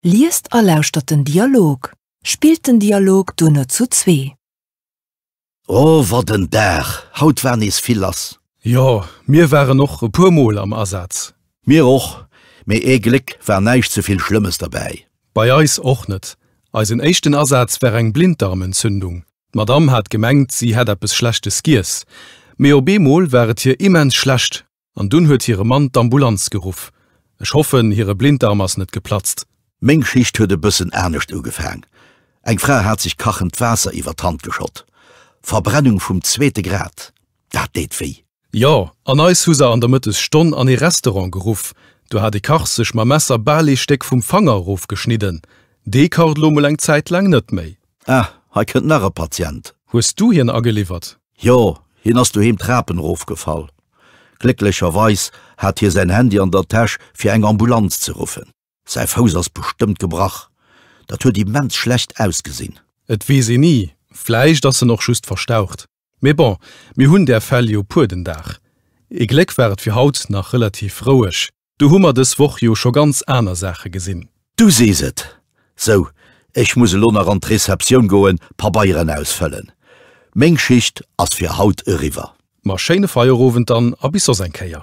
Liest a lauschtert den Dialog. Spillt den Dialog duerno zu zwee. O wat en Dag, haut war nees vill lass. Jo, mir waren och e puer mol am Asaz. Mir och, mee ee Gléck war näischt ze vill Schlëmmes derbäi. Bei eis och net. Eisen éischten Asaz war eng Blinddarmentzündung. D'Madame hat gemengt, si hätt eppes Schlechtes giess, mee op eemol war et hir immens schlecht. an dunn huet hire Mann d'Ambulanz geruff. Ech hoffen, hire Blinddarm ass net geplatzt. Meng Geschicht huet e bëssen anescht ugefaang. Eng Fra hat sech kachend Waasser iwwer d'Hand geschott. Verbrennung vum zweete Grad, dat deet wéi. Jo, an eis hu se an der Mëttesstonn an ee Restaurant geruff. Do hat e Kach sech mam Messer bal ee Stéck vum Fanger erofgeschnidden. Dee kacht elo mol eng Zäit laang net méi. Ah, hei kënnt nach e Patient. Hues du hien ageliwwert? Jo, hien ass doheem d'Trapen erofgefall. Glécklecherweis hat hie säin Handy an der Täsch fir eng Ambulanz ze ruffen. Säi Fouss ass bestëmmt gebrach, dat huet immens schlecht ausgesinn. Et weess een ni, vläicht ass en och just verstaucht. Mee bon, mir hunn där Fäll jo puer den Dag. Ee Gléck war et fir haut nach relativ roueg. Do hu mer dës Woch jo scho ganz aner Saache gesinn. Du sees et! Sou, ech muss elo nach an d'Receptioun goen, Pabeieren ausfëllen. Meng Schicht ass fir haut eriwwer. Ma schéine Feierowend dann a bis soss eng Kéier.